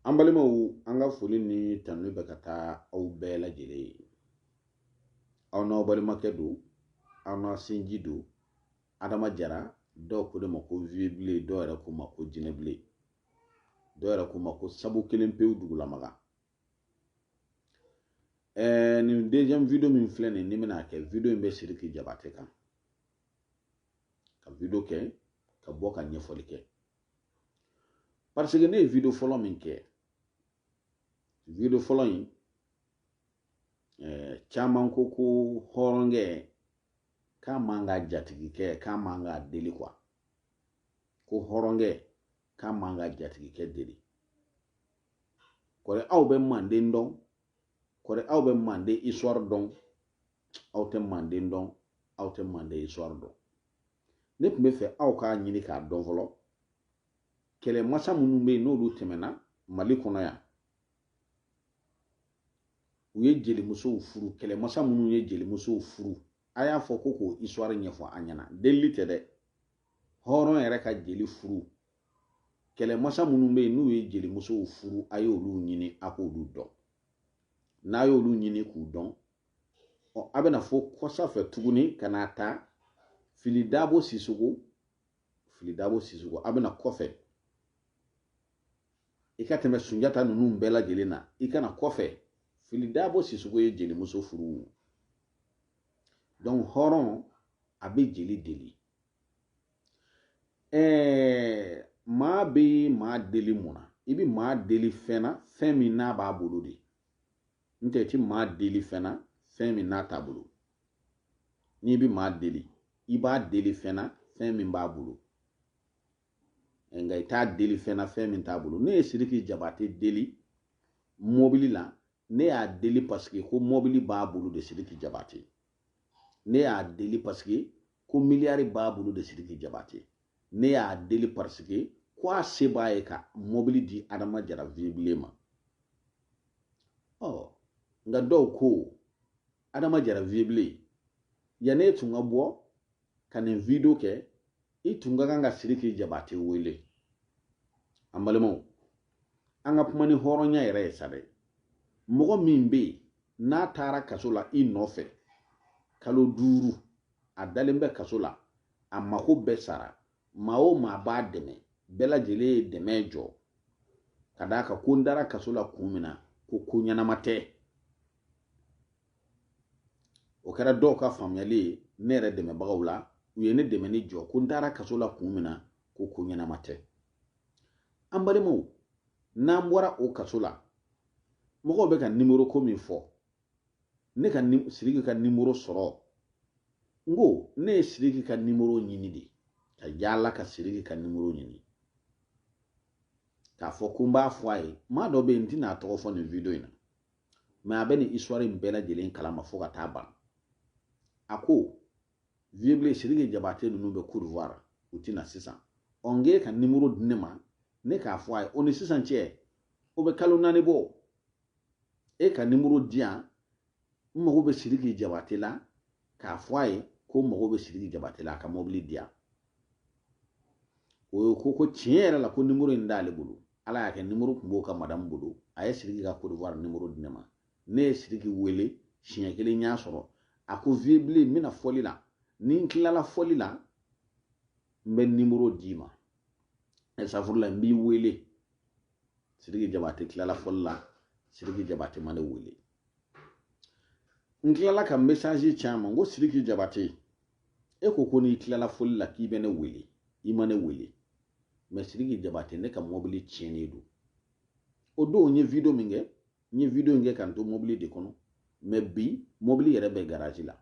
an balimaw an ka foli ni tanu bɛ ka taa aw bɛɛ lajɛlen ye aw n'aw balimakɛ don aw n'a sinji don adama jara dɔw ko ne ma ko vieux bilen dɔw yɛrɛ ko n ma ko jinɛ bilen dɔw yɛrɛ ko n ma ko sabu kelen pewu dugulamaga ɛɛ nin deuxième video min filɛ nin ni bɛna kɛ video in bɛ siriki jabate kan ka video kɛ ka bɔ ka ɲɛfɔli kɛ parce que ne ye video fɔlɔ min kɛ video fɔlɔ in eh, caman ko ko hɔrɔnkɛ k'a man ka jatigikɛ k'a man ka deli quoi ko hɔrɔnkɛ k'a man ka jatigikɛ deli kɔri aw bɛ manden dɔn kɔri aw bɛ manden histoire dɔn aw tɛ manden dɔn aw tɛ manden histoire dɔn ne tun b'a fɛ aw k'a ɲini k'a dɔn fɔlɔ kɛlɛmasa minnu bɛ yen n'olu tɛmɛna mali kɔnɔ yan u ye jelimusow furu kɛlɛmasa minnu ye jelimusow furu a y'a fɔ ko k'o histoire ɲɛfɔ an ɲɛna delili tɛ dɛ hɔrɔn yɛrɛ ka jeli furu kɛlɛmasa minnu bɛ yen n'u ye jelimusow furu a y'olu ɲini a k'olu dɔn n'a y'olu ɲini k'u dɔn ɔ a bɛ na fɔ kɔsa fɛ tuguni ka n'a ta fili dabo sisɔkɔ fili dabo sisɔkɔ a bɛ na kɔfɛ i ka tɛmɛ sunjata ninnu bɛɛ lajɛlen na i ka na kɔfɛ fili dabo sisɔkɔ ye jelimuso furu donc hɔrɔn a bɛ jeli deli ɛɛ maa bɛ maa deli mun na i bɛ maa deli fɛn na fɛn min n'a b'a bolo de n'o tɛ i tɛ maa deli fɛn na fɛn min n'a t'a bolo n'i bɛ maa deli i b'a deli fɛn na fɛn min b'a bolo nka i t'a deli fɛn na fɛn min t'a bolo ne ye siriki jabate deli mɔbili la ne y'a deli parce que ko mɔbili b'a bolo de siriki jabate ne y'a deli parce que ko miliyari b'a bolo de sidiki jabate ne y'a deli parce que ko a se b'a ye ka mɔbili di adama jara vieux bilen ma ɔ nka dɔw ko adama jara vieux bilen yan'e tun ka bɔ ka nin video kɛ i tun ka kan ka siriki jabate wele an balimaw an ka kuma ni hɔrɔnya yɛrɛ ye sa dɛ mɔgɔ min bɛ yen n'a taara kaso la i nɔfɛ kalo duuru a dalen bɛ kaso la a mako bɛɛ sara maa o maa b'a dɛmɛ bɛɛ lajɛlen ye dɛmɛ jɔ ka d'a kan ko n dara kaso la kun min na ko ko ɲɛnama tɛ o kɛra dɔw ka faamuyali ye ne yɛrɛ dɛmɛbagaw la u ye ne dɛmɛni jɔ ko n taara kaso la kun min na ko ko ɲɛnama tɛ an balimaw n'an bɔra o kaso la mɔgɔw bɛ ka nimoro ko min fɔ ne ka siriki ka nimoro sɔrɔ n ko ne ye siriki ka nimoro ɲini de ka yaala ka siriki ka nimoro ɲini k'a fɔ ko n b'a fɔ a ye maa dɔ bɛ yen n tɛna a tɔgɔ fɔ nin wideyo in na mɛ a bɛ nin histoire in bɛɛ lajɛlen kalama fo ka taa ban a ko vieux blen sidiki jabate ninnu bɛ cote d'ivoire u tɛ na sisan ɔ n k'e ka nimoro di ne ma ne k'a fɔ a ye o ni sisan cɛ o bɛ kalo naani bɔ e ka nimoro di yan n mago bɛ sidiki jabate la k'a fɔ a ye ko n mago bɛ sidiki jabate la a ka mobili di yan o ko ko tiɲɛ yɛrɛ la ko nimoro in t'ale bolo ala y'a kɛ nimoro tun b'o ka madamu bolo a ye siriki ka kodowari nimoro di ne ma ne ye siriki wele siɲɛ kelen y'a sɔrɔ a ko vieux blen n bɛ na fɔli la ni n tilala fɔli la n bɛ nimoro d'i ma safurula n b'i wele siriki jabate tilala fɔli la siriki jabate ma ne wele n tilala ka mesazi ci a ma n ko sidiki jabate e ko ko n'i tilala fɔli la k'i bɛ ne wele i ma ne wele mɛ sidiki jabate ne ka mɔbili tiɲɛnen don o don n ye video min kɛ n ye video in kɛ ka n to mɔbili de kɔnɔ mɛ bi mɔbili yɛrɛ bɛ garaji la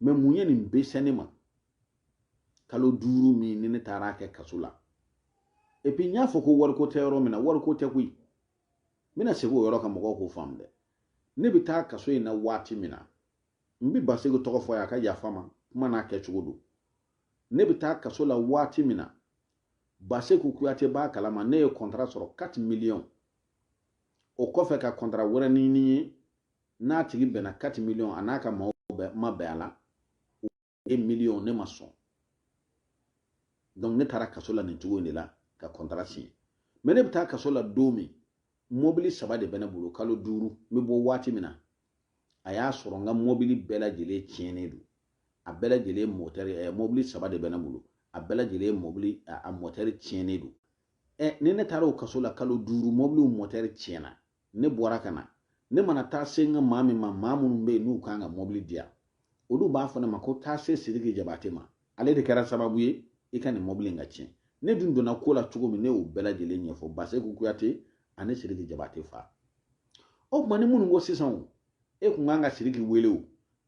mɛ mun ye nin bɛɛ se ne ma kalo duuru min ni ne taara kɛ kaso la epi n y'a fɔ ko wariko tɛ yɔrɔ min na wariko tɛ koyi n bɛna segin o yɔrɔ kan mɔgɔw k'o faamu dɛ ne bɛ taa kaso in na waati min na n bɛ baseku tɔgɔ fɔ a ka yafa n ma kuma n'a kɛcogo don ne bɛ taa kaso la waati min na baseku kuyate b'a kalama ne ye kɔntara sɔrɔ 4 miliyɔn o kɔfɛ ka kɔntara wɛrɛ ɲini ye n'a tigi bɛnna 4 miliyɔn a n'a ka maaw ma bɛn a la 1 miliyɔn ne ma sɔn donc ne taara kaso la nin cogo in de la ka kɔntara siɲɛ mɛ ne bɛ taa kaso la don min mɔbili saba de bɛ ne bolo kalo duuru n bɛ bɔ waati min na a y'a sɔrɔ n ka mɔbili bɛɛ lajɛlen tiɲɛnen don a bɛɛ lajɛlen mɔtɛri ɛ mɔbili saba de bɛ ne bolo a bɛɛ lajɛlen mɔbili a mɔtɛri tiɲɛnen don ɛ ni ne taara o kaso la kalo duuru mɔbiliw mɔtɛri tiɲɛna ne bɔra ka na ne mana taa se n ka maa min ma maa minnu bɛ yen n'u kan ka mɔbili di yan olu b'a fɔ ne ma ko taa se sidiki jabate ma ale de kɛra sababu ye i ka nin mɔbili in ka tiɲɛ ne dun donna ko la cogo min ne y'o bɛɛ lajɛlen ɲɛfɔ baseku kuyate ani sidiki jabate fa o tuma ni minnu ko sisan o e kun kan ka sidiki wele o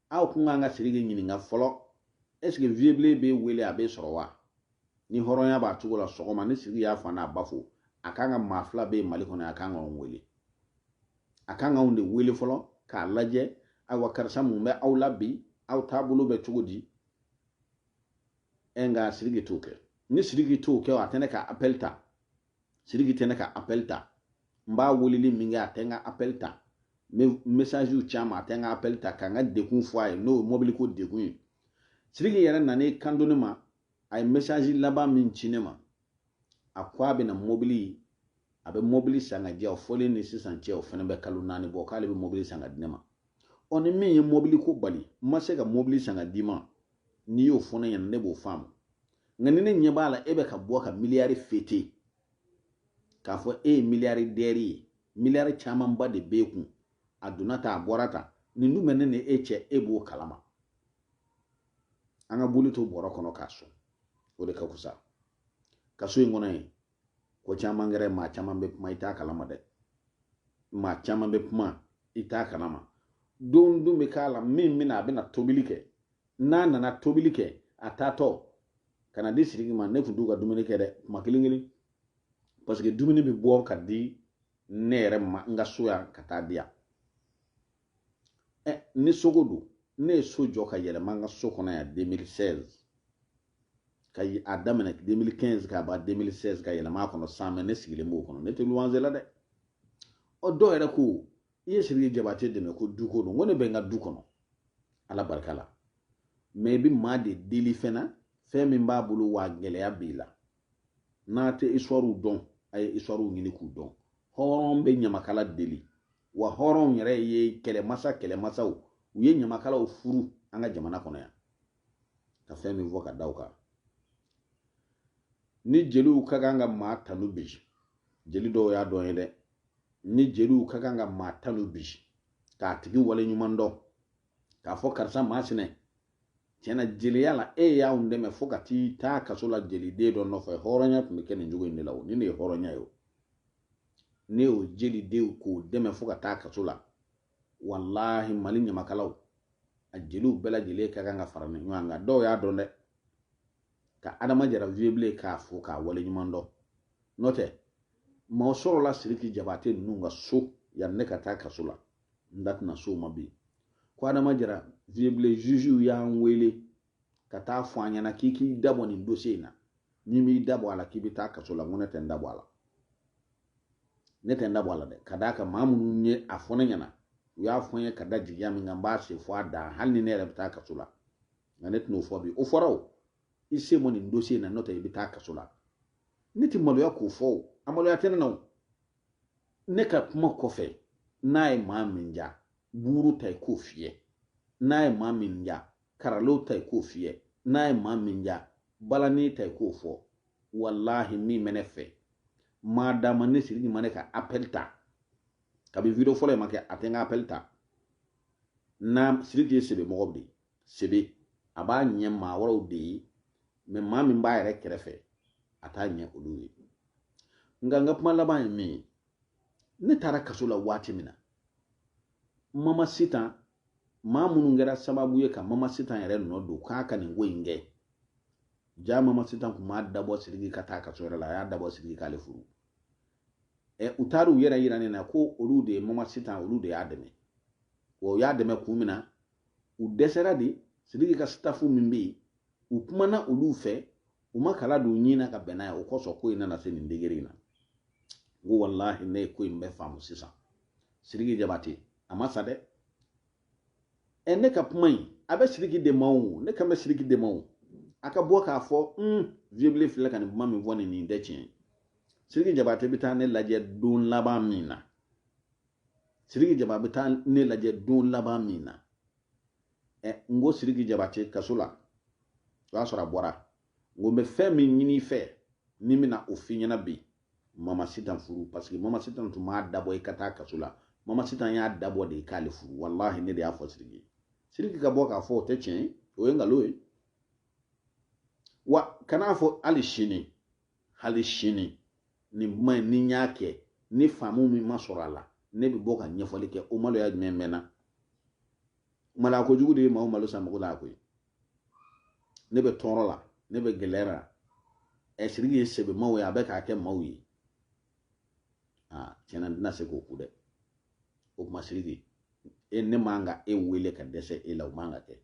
aw kun kan ka sidiki ɲininka fɔlɔ ɛseke vieux blen bɛ wele a bɛ sɔrɔ wa ni hɔrɔnya b'a cogo la sɔgɔma ni siriki y'a fa n'a ba fo a kan ka maa fila bɛ mali kɔnɔ a kan ka anw wele a kan ka anw de wele fɔlɔ k'a lajɛ ayiwa karisa mun bɛ aw la bi aw taabolo bɛ cogo di ɛ nka siriki t'o kɛ ni siriki t'o kɛ a tɛ ne ka apɛl ta siriki tɛ ne ka apɛl ta n b'a weleli min kɛ a tɛ n ka apɛl ta n bɛ mesaziw ci a ma a tɛ n ka apɛl ta ka n ka degun fɔ a ye n'o ye mobiliko degun ye siriki yɛrɛ nan'i kan don ne ma a ye message laban min ci ne ma a ko a bɛna mobili a bɛ mobili san ka di yan o fɔlen ni sisan cɛ o fana bɛ kalo naani bɔ k'ale bɛ mobili san ka di ne ma ɔ ni min ye mobili ko bali n ma se ka mobili san ka d'i ma n'i y'o fɔ ne ɲɛna ne b'o faamu nka ni ne ɲɛ b'a la e bɛ ka bɔ ka miliyari fete k'a fɔ e ye miliyaridɛri ye miliyari camanba de b'e kun a donna tan a bɔra tan nin dun bɛ ne ni e cɛ e b'o kalama an ka boli to bɔrɔ kɔnɔ k'a sɔn o de ka fusa kaso in kɔnɔ yen ko caman kɛra maa caman bɛ kuma i t'a kalama dɛ maa caman bɛ kuma i t'a kalama don dɔ bɛ k'a la min bɛna a bɛna tobili kɛ n'a nana tobili kɛ a taatɔ ka na di siriki ma ne tun t'u ka dumuni kɛ dɛ kuma kelen kelen parce que dumuni bɛ bɔ ka di ne yɛrɛ ma n ka so yan ka taa di yan ni soko don ne ye so jɔ ka yɛlɛma n ka so kɔnɔ yan 2016 ka a daminɛ 2015 ka ban 2016 ka yɛlɛma a kɔnɔ san mɛ ne sigilen b'o kɔnɔ ne tɛ luwanze la dɛ ɔ dɔw yɛrɛ ko i ye siriki jabate dɛmɛ ko duko don ko ne bɛ n ka du kɔnɔ ala barika la mɛ i bɛ maa de deli fɛn na fɛn min b'a bolo wa gɛlɛya b'i la n'a tɛ isitwariw dɔn a ye isitwariw ɲini k'u dɔn hɔrɔn bɛ ɲamakala deli wa hɔrɔnw yɛrɛ ye kɛlɛmasa kɛlɛmasaw u ye ɲamakalaw furu an ka jamana kɔnɔ yan ka fɛn min fɔ ka da u kan ni jeliw ka kan ka maa tanu bi jeli dɔw y'a dɔn ye dɛ ni jeliw ka kan ka maa tanu bi k'a tigi wale ɲuman dɔn k'a fɔ karisa maa sinɛ tiɲɛ na jeliya la e y'anw dɛmɛ fo ka t'i taa kaso la jeliden dɔ nɔfɛ hɔrɔnya tun bɛ kɛ nin cogo in de la o ni ne ye hɔrɔnya ye o ne y'o jeliden ko dɛmɛ fo ka taa kaso la walahi mali ɲamakalaw a jeliw bɛɛ lajɛlen ka kan ka fara ɲɔgɔn kan nka dɔw y'a dɔn dɛ ka adama jara vieux blen k'a fo k'a wale ɲuman dɔn n'o tɛ maaw sɔrɔla siriki jabate ninnu ka so yanni ne ka taa kaso la n da tɛna s'o ma bi ko adama jara vieux blen zuziw y'an wele ka taa fɔ an ɲɛna k'i k'i dabɔ nin dossier in na n'i m'i dabɔ a la k'i bɛ taa kaso la n ko ne tɛ n dabɔ a la ne tɛ n dabɔ a la dɛ ka d'a kan maa minnu ye a fɔ ne ɲɛna u y'a fɔ n ye ka da jigiya min kan n b'a se fɔ a dan hali ni ne yɛrɛ bɛ taa kaso la nka ne tɛn'o fɔ bi o fɔra o i sen bɔ nin dossier in na n'o tɛ i bɛ taa kaso la ne tɛ maloya k'o fɔ o a maloya tɛ ne na o ne ka kuma kɔfɛ n'a ye maa min diya buru ta i k'o fiyɛ n'a ye maa min diya clairon ta i k'o fiyɛ n'a ye maa min diya balani ta i k'o fɔ walahi min bɛ ne fɛ maa d'a ma ne siriki ma ne ka appel ta kabi video fɔlɔ in ma kɛ a tɛ n ka appel ta na siriki ye sɛbɛ mɔgɔ de sɛbɛ a b'a ɲɛ maa wɛrɛw de ye mɛ maa min b'a yɛrɛ kɛrɛfɛ a t'a ɲɛ olu ye nka n ka kuma laban ye min ye ne taara kaso la waati min na mama sitan maa minnu kɛra sababu ye ka mama sitan yɛrɛ nɔ don k'a ka nin ko in kɛ jaa mama sitan kun m'a dabɔ siriki ka taa kaso yɛrɛ la a y'a dabɔ siriki k'ale furu ɛ u taara u yɛrɛ yira ne na ko olu de mama sitan olu de y'a dɛmɛ wa u y'a dɛmɛ kun min na u dɛsɛra de siriki ka sitafu min bɛ yen u kumana olu fɛ u ma kala don ɲin na ka bɛn n'a ye o kosɔn ko in nana se nin degere in na n ko walahi ne ye ko in bɛɛ faamu sisan siriki jabate a ma sa dɛ ɛ ne ka kuma in a bɛ siriki de ma o ne kan bɛ siriki de ma o a ka bɔ k'a fɔ un vieux bilen filɛ ka nin kuma min fɔ nin nin tɛ tiɲɛ ye siriki jabate bɛ taa ne lajɛ don laban min na siriki jaba bɛ taa ne lajɛ don laban min na n ko siriki jabate kaso la o y'a sɔrɔ a bɔra n ko n bɛ fɛn min ɲini i fɛ ne bɛna o f'i ɲɛna bi mama sitan furu paseke mama sitan tun m'a dabɔ i ka taa kaso la mama sitan y'a dabɔ de i k'ale furu walahi ne de y'a fɔ siriki ye siriki ka bɔ k'a fɔ o tɛ tiɲɛ ye o ye nkalon ye wa kan'a fɔ hali sini hali sini nin kuma in ni n y'a kɛ ni faamu min ma sɔrɔ a la ne bɛ bɔ ka ɲɛfɔli kɛ o maloya jumɛn bɛ n na maloya kojugu de ye maaw malo san mako la koyi ne bɛ tɔɔrɔ la ne bɛ gɛlɛya la ɛ siriki ye sɛbɛmaa ye a bɛ k'a kɛ maaw ye aa tiɲɛ na n tɛna se k'o ku dɛ o kuma siriki e ne man ka e wele ka dɛsɛ e la o man ka kɛ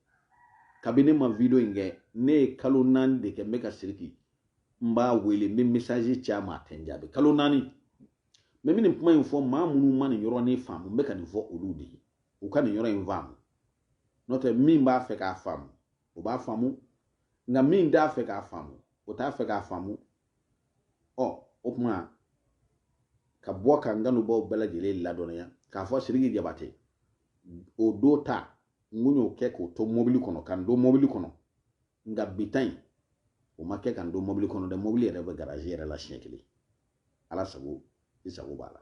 kabini ne ma video in kɛ ne ye kalo naani de kɛ n bɛ ka siriki n b'a wele n bɛ mesazi ci a ma a tɛ n jaabi kalo naani mɛ n bɛ nin kuma in fɔ maa minnu ma nin yɔrɔnin faamu n bɛ ka nin fɔ olu de ye u ka nin yɔrɔ in faamu n'o tɛ min b'a fɛ k'a faamu o b'a faamu nka min t'a fɛ k'a faamu o t'a fɛ k'a faamu ɔ o tuma ka bɔ ka n kanubaaw bɛɛ lajɛlen ladɔnniya k'a fɔ siriki jabate o don ta n kun y'o kɛ k'o to mobili kɔnɔ ka n don mobili kɔnɔ nka bi ta in o ma kɛ ka n don mobili kɔnɔ dɛ mobili yɛrɛ bɛ garazi yɛrɛ la siɲɛ kelen ala sago i sago b'a la